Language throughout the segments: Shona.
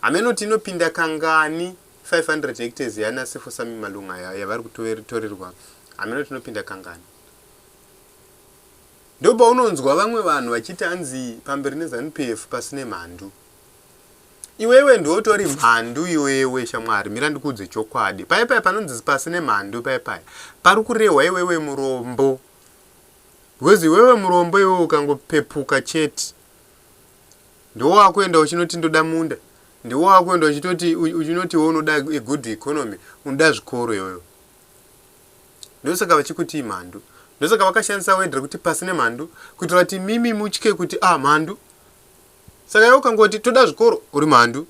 Hameno kuti inopinda kangani 500 hectares yana Sefosami Malunga ya- yavari kutorerwa hameno kuti inopinda kangani. Ndopaunonzwa vamwe vanhu vachiti anzi pamberi neZanu PF pasine mhandu. Iwewe ndiwe utori mhandu iwewe shamwari mira ndikuudze chokwadi. Paye paye panonzi pasine mhandu paye paye pari kurehwa iwewe murombo. Because iwewe murombo iwewe ukangopepuka chete Ndiwo wakuenda uchinoti ndoda munda. Ndiwo wakuenda uchitoti uchinoti iwe unoda a good economy, unoda zvikoro iyoyo. Ndosaka vachikuti imhandu. Ndosaka vakashandisa word rekuti pasi nemhandu kuitira kuti mimi mutye kuti ah mhandu. Saka iwe ukangoti toda zvikoro uri mhandu.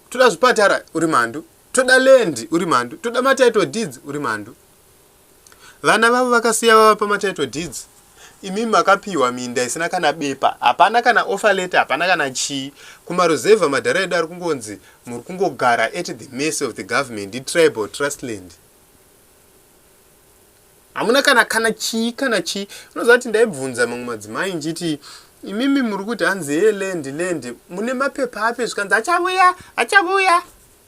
Toda zvipatara uri mhandu. Toda land uri mhandu. Toda matitle deeds uri mhandu. Vana vavo vakasiya vava pama title deeds imi makapiwa minda isina kana bepa hapana kana offer letter hapana kana chii kumaruzevha madhara edu ari kungonzi muri kungogara at the mercy of the government itribal trustland hamuna kana kana chii kana chii unoziva kuti ndaibvunza mamwe madzimai nchiti imimi muri kuti hanzi ye land land mune mapepa api zvikanzi achavuya achavuya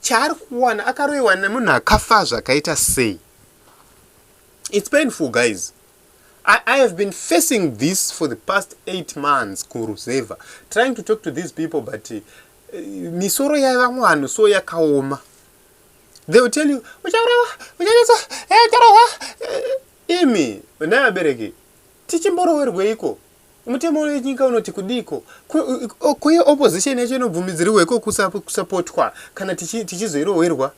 chaari kuwana akaroiwa nemunhu akafa zvakaita sei its painful guys I, I have been facing this for the past eight months kuruzevha trying to talk to these people but uh, misoro yavamwe vanhu so yakaoma they will tell you uchaurawa uchanetsa eh, ucharohwa eh, imi naabereki tichimborowerweiko Mutemo wenyika unoti kudiiko? Kuye opposition yacho inobvumidzirwa iko kusapotwa kana tichizoirohwerwa.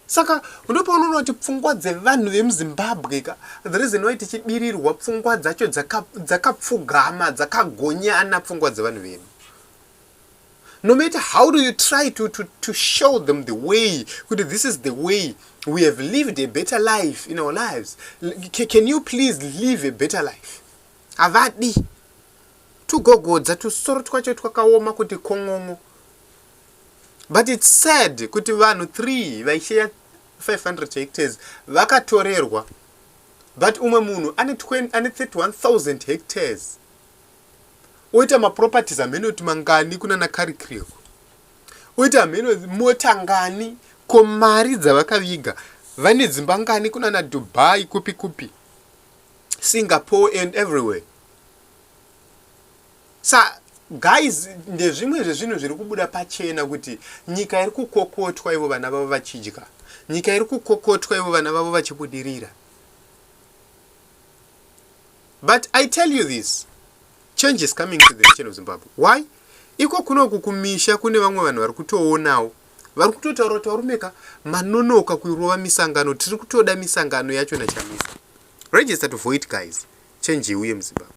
Saka ndopaonoona kuti pfungwa dzevanhu vemuZimbabwe ka the reason why tichibirirwa pfungwa dzacho dzakapfugama dzakagonyana pfungwa dzevanhu vedu. no matter how do you try to, to, to show them the way kuti this is the way we have lived a better life in our lives C can you please live a better life havadi tugogodza tusoro twacho twakaoma kuti kon'on'o but its sad kuti vanhu three vaisheya 500 hectares vakatorerwa but umwe munhu ane 31000 hectares oita maproperties hamheno kuti mangani kunana karikreko oita hamheno mota ngani ko mari dzavakaviga vane dzimba ngani kunana dubai kupi kupi singapore and everywhere sa guys ndezvimwe zvezvinhu zviri kubuda pachena kuti nyika iri kukokotwa ivo vana vavo vachidya nyika iri kukokotwa ivo vana vavo vachibudirira but i tell you this change is coming to the nation of zimbabwe why iko kunoku kumisha kune vamwe vanhu vari kutoonawo vari kutotaura kuti varume ka manonoka kurova misangano tiri kutoda misangano yacho nachamisa register to void guys change iuye muzimbabwe